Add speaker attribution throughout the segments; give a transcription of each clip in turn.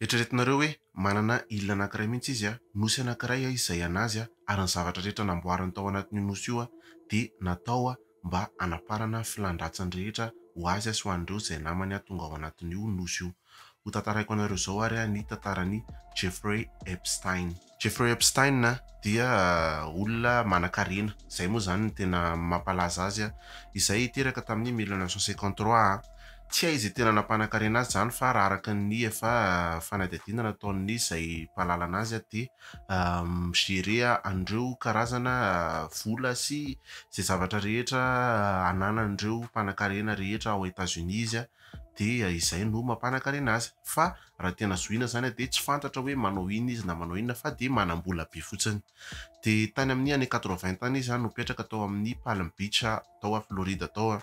Speaker 1: Eritreretinareo hoe manana île anankiray mihitsy izy a, nosy anankiray a izay anazy ary ny zavatra rehetra namboariny tao anatin'io nosy io dia natao mba hanaparana filan-dratsiny rehetra ho azy sy ho an'ireo izay namany tonga ao anatin'io nosy io. Hotantaraiko anareo izao ary ny tantaran'i Jeffrey Epstein. Jeffrey Epstein dia olona manan-karena, izay moa izany no tena mampalaza azy, izay teraka tamin'ny mille neuf cent cinquante trois. Tsy hay izay tena nampanan-karena azy izany fa raha araka ny efa fanadihadiana nataon'ny izay mpahalala an'azy dia mi-gérer an'ireo karazana vola sy izay zavatra rehetra ananan'ireo mpanan-karena rehetra ao Etats-Unis izy dia izay no mampanakarena azy, fa raha tena zohina izany dia tsy fantatra hoe manao inona izy na manao inona fa dia manam-bola be fotsiny. Dia tany amin'ny année quatre-vingt tany izy no mipetraka tao amin'ny Palm Beach tao Florida tao,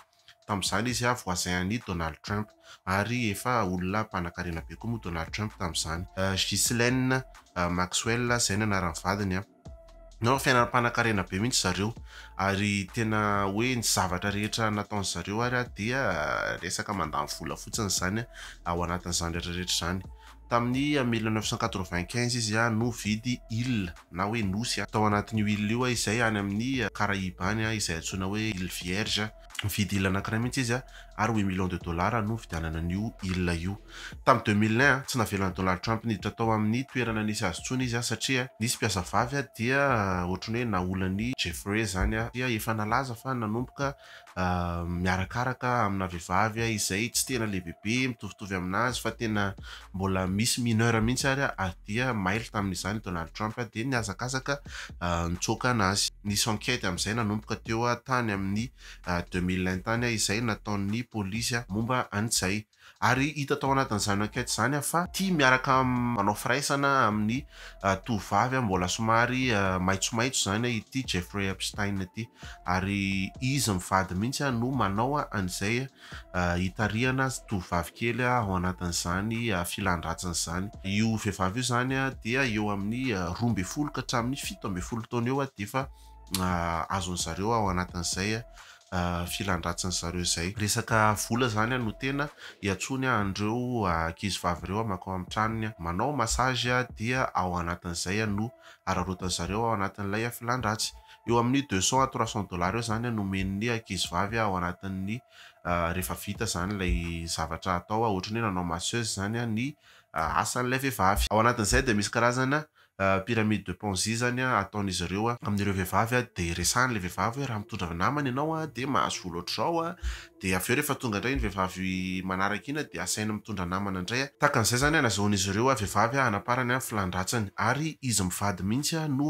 Speaker 1: tamin'izany izy voisin an'i Donald Trump ary efa olona mpanankarena be koa moa Donald Trump tamin'izany. Ghislaine Maxwell izay no anaran'ny vadiny. Nanao fiainana mpanankarena be mihitsy zareo ary tena hoe ny zavatra rehetra nataon'ny zareo ary ah dia resaka mandany vola fotsiny izany ao anatin'izany rehetra rehetra izany. Tamin'ny mille neuf cent quatre-vingt-quinze izy ah no vidy île na hoe nosy tao anatin'io île io izay any amin'ny Caraïbes any izay antsoina hoe île Vierge. Nividy île anankiray mihitsy izy ary huit millions de dollars no nividianana an'io île io. Tamin'ny deux mille un, tsy navelan'i Donald Trump niditra tao amin'ny toerana nisy azy intsony izy satria nisy mpiasa vavy dia ohatran'ny hoe naolan'i Jeffrey izany dia efa nalaza fa nanomboka miarakaraka amina vehivavy izay tsy tena lehibebe mitovitovy amin'azy fa tena mbola misy mineur mihitsy ary ary dia mailo tamin'izany Donald Trump dia nihazakazaka nitsoaka anazy. Nisy enquête amin'izay nanomboka teo tany amin'ny deux mille un tany izay nataon'ny polisy momba an'izay ary hita tao anatin'izany enquête izany fa ity miaraka manao firaisana amin'ny tovovavy mbola somary maitsomaitso izany ity Jeffrey Epstein ity ary izy mivady mihitsy no manao an'izay hitarihana tovovavy kely ao anatin'izany filan-dratsiny izany. Io vehivavy io izany dia eo amin'ny roa ambin'ny folo ka hatramin'ny fito ambin'ny folo taona eo dia efa azon'ny zareo ao anatin'izay filan-dratsin'ny zareo izay. Resaka vola izany no tena iantsoany an'ireo ankizivavy ireo mankao amin'ny tranony manao massage dia ao anatin'izay no araraotin'ny zareo ao anatin'ilay filan-dratsy. eo amin'ny deux cents à trois cents dollars eo izany no omen'ny ankizivavy ao anatin'ny rehefa vita izany ilay zavatra atao, ohatran'ny hoe nanao masseuse izany ny asan'ilay vehivavy. Ao anatin'izay dia misy karazana pyramide de ponzi izany ataon'izy ireo amin'ireo vehivavy dia resahiny ilay vehivavy hoe raha mitondra namana ianao dia mahazo vola ohatr'izao, Dia avy eo rehefa tonga indray iny vehivavy manaraka iny dia asainy mitondra namana indray, tahaka an'izay izany halazaon'izy ireo vehivavy hanaparany ny filan-dratsiny, ary izy mivady mihitsy no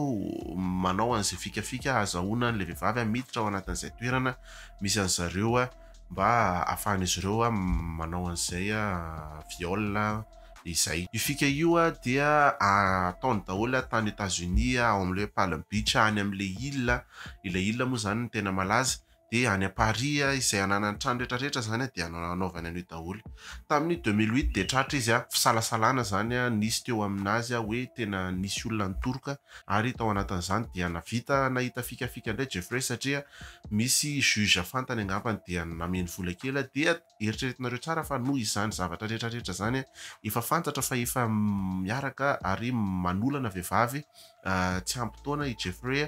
Speaker 1: manao an'izay fikafika hahazahoana an'ilay vehivavy miditra ao anatin'izay toerana misy an'i zareo mba hahafahan'izy ireo manao an'izay viol izay. Io fika io dia ataony daholo tany Etats-Unis ao amin'ilay hoe Palm Beach any amin'ilay île, ilay île moa izany no tena malaza, dia any à Paris a, izay ananany trano rehetra rehetra zany a dia anaovany an'io daholo, tamin'ny deux mille huit dia tratra izy a, fisalasalana zany a nisy teo amin'azy a hoe tena nisy olona nitoroka ary tao anatin'izany dia navita nahita fikafika indray Jeffrey satria misy juge fantany angambany dia nameny vola kely a dia Eritreretinareo tsara fa noho izany zavatra rehetra rehetra izany efa fantatra fa efa miaraka ary manolana vehivavy tsy ampy taona i Jeffrey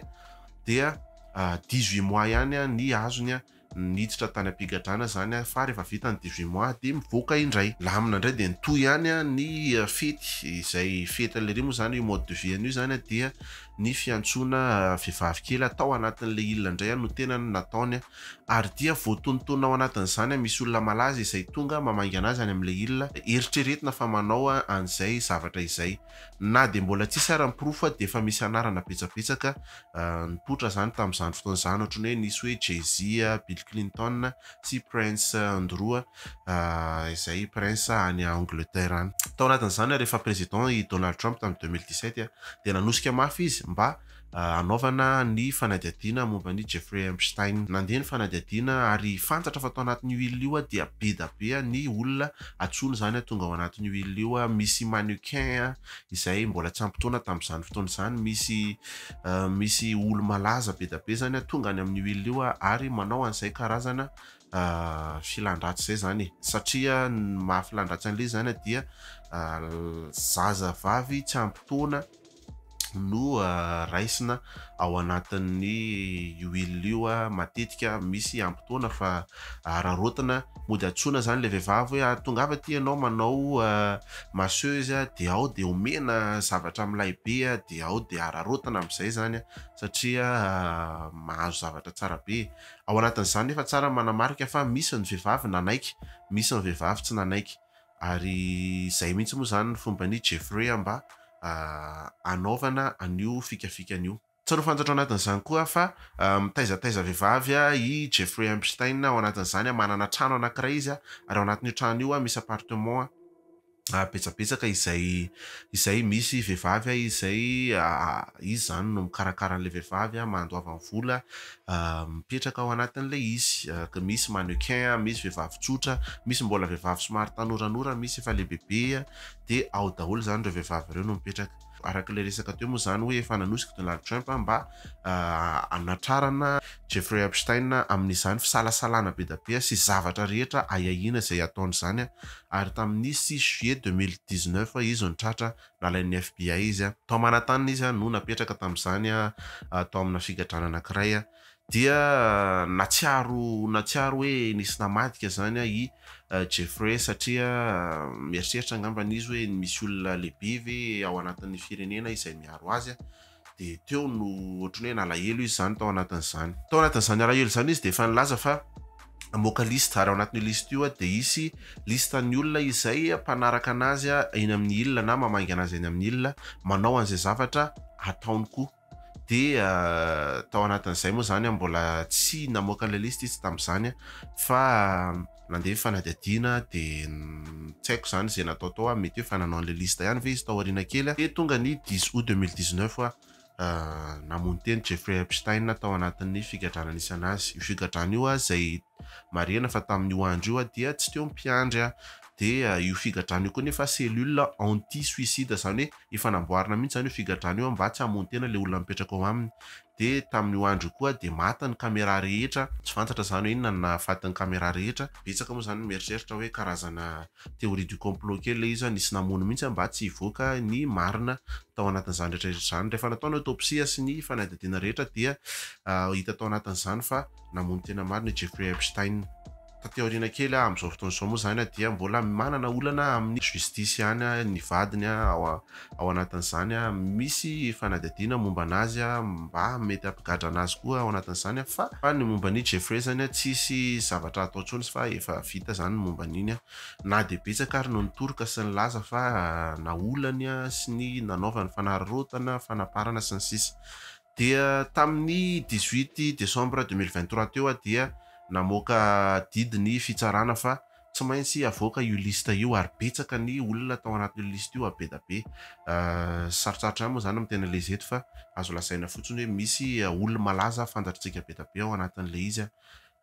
Speaker 1: dia 18 mois ihany ny azony niditra tany am-pigadrana izany fa rehefa vita ny 18 mois dia mivoaka indray. Lamina indray dia nitohy ihany ny fety izay fety lery moa izany io mode de vie an'io izany dia ny fiantsoana vehivavy kely tao anatin'ilay il indray no tena nataony Ary dia voatonontonona ao anatin'izany an misy olona malaza izay tonga mamaingana azy any amin'ilay il, eritreretina fa manao an'izay zavatra izay. Na dia mbola tsisy ara ny porofo fa dia efa misy anarana betsabetsaka nipoitra izany tamin'izany fotoana izany ohatry ny hoe nisy hoe Jay-Z, Bill Clinton sy Prince Andrew izay prince any Angleterre any. Tao anatin'izany ary efa président i Donald Trump tamin'ny deux mille dix-sept dia nanosika mafy izy mba hanaovana ny fanadihadiana momba an'i Jeffrey Epstein. Nandeha ny fanadihadiana ary fantatra fa tao anatin'io île io dia be da be ny olona antsoina izany tonga ao anatin'io île io. Misy mannequin izay mbola tsy ampy taona tamin'izany fotoana izany, misy misy olo-malaza be da be izany tonga any amin'io île io ary manao an'izay karazana filan-dratsy izay izany e. Satria ny maha filan-dratsy an'ilay izy izany dia zazavavy tsy ampy taona no raisina ao anatin'ny huile io matetika misy ampitaona fa araraotina mody antsoina zany le vehivavy hoe ah, tongava aty ianao manao masseuse dia ao dia omena zavatra milay be dia ao dia araraotina amin'izay zany satria mahazo zavatra tsara be ao anatin'izany nefa tsara manamarika fa misy ny vehivavy nanaiky misy ny vehivavy tsy nanaiky Ary izay mihitsy moa izany ny fomban'i Jeffrey mba hanaovana an'io fikafikany io. Tsarovy fantatro anatin'izany koa fa mitaizataiza vehivavy i Jeffrey Epstein, ao anatin'izany manana trano anankiray izy ary ao anatin'io trano io misy appartement betsabetsaka izay izay misy vehivavy izay izy izany no mikarakara an'ilay vehivavy, mandoavany vola, Mipetraka ao anatin'ilay izy, misy mannequin, misy vehivavy tsotra, misy mbola vehivavy somary tanoranora, misy efa lehibebe, dia ao daholo izany ireo vehivavy ireo no mipetraka. Araka ilay resaka teo moa izany hoe efa nanosika Donald Trump mba hanatrarana Jeffrey Epstein amin'izany fisalasalana be dia be sy zavatra rehetra ahiahiana izay hataony izany, ary tamin'ny six juillet deux mille dix-neuf izy no tratra nalain'ny FBI izy. Tao Manhattan izy no napetraka tamin'izany tao amina figadrana anankiray dia natsiaro natsiaro hoe nisy namadika izany i Jeffrey satria mieritreritra angambany izy hoe misy olona lehibe ve ao anatin'ny firenena izay miaro azy. dia teo no ohatry ny hoe nalahelo izy izany tao anatin'izany. Tao anatin'izany alahelo izany izy dia efa nilaza fa hamoaka liste ary ao anatin'io liste io dia hisy liste ny olona izay mpanaraka anazy eny amin'ny il na mamangy anazy eny amin'ny il manao an'izay zavatra ataony koa. Dia tao anatin'izay moa izany mbola tsy namoaka ilay liste izy tamin'izany fa nandeha ny fanadihadiana dia tsy haiko izany izay natao tao ah, mety hoe efa nanao an'ilay liste ihany ve izy tao aoriana kely ah, dia tonga ny dix aout deux mille dix-neuf ah, namono teny Jeffrey Epstein tao anatin'ny figadrana nisy an'azy, io figadrana io ah, izay marihana fa tamin'io andro io ah, dia tsy teo mpiandry ah, dia io figadrana io koa nefa cellule anti-suicide, izany hoe efa namboarina mihitsy izany io figadrana io ah, mba tsy hamono tena ilay olona mipetraka ao aminy, Dia tamin'io andro io koa dia maty ny camera rehetra, tsy fantatra izany hoe inona no nahafaty ny camera rehetra, betsaka moa izany no mieritreritra hoe karazana théorie du complot kely ilay izy fa nisy namono mihitsy mba tsy hivoaka ny marina tao anatin'izany rehetrarehetra izany, rehefa natao ny autopsie sy ny fanadihadiana rehetra dia hita tao anatin'izany fa namono tena marina i Jeffrey Epstein. Taty aoriana kely amin' izao fotoana izao moa izany dia mbola manana olana amin' ny justice ihany ny vadiny ao ao anatin' izany. Misy fanadihadiana momba an' azy mba mety hampigadra an' azy koa ao anatin' izany fa fa ny momba an' i Jeffrey izany tsisy zavatra atao intsony fa efa vita izany ny momba an' iny. Na dia betsaka ary no nitoroka sy nilaza fa naolany sy ny nanaovany fanararaotana, fanaparana sy ny sisa Dia tamin'ny dix-huit décembre deux mille vingt-trois teo aho dia namoaka didy ny fitsarana fa tsy maintsy havoaka io liste io ary betsaka ny olona tao anatin'io liste io be da be. Sarotsarotra ihany moa izany ny miteny an'ilay izy eto fa azo lazaina fotsiny hoe misy olo-malaza fantatr'tsika be da be ao anatin'ilay izy.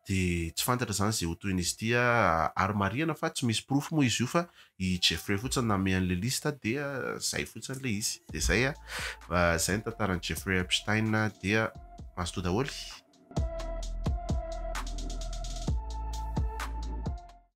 Speaker 1: Dia tsy fantatra izany izay ho tohin'izy ity ah. Ary marihana fa tsy misy porofo moa izy io fa i Jeffrey fotsiny nanome an'ilay liste dia izay fotsiny ilay izy. Dia izay ah. Izay ny tantaran'i Jeffrey Epstein dia mazotoa daholo.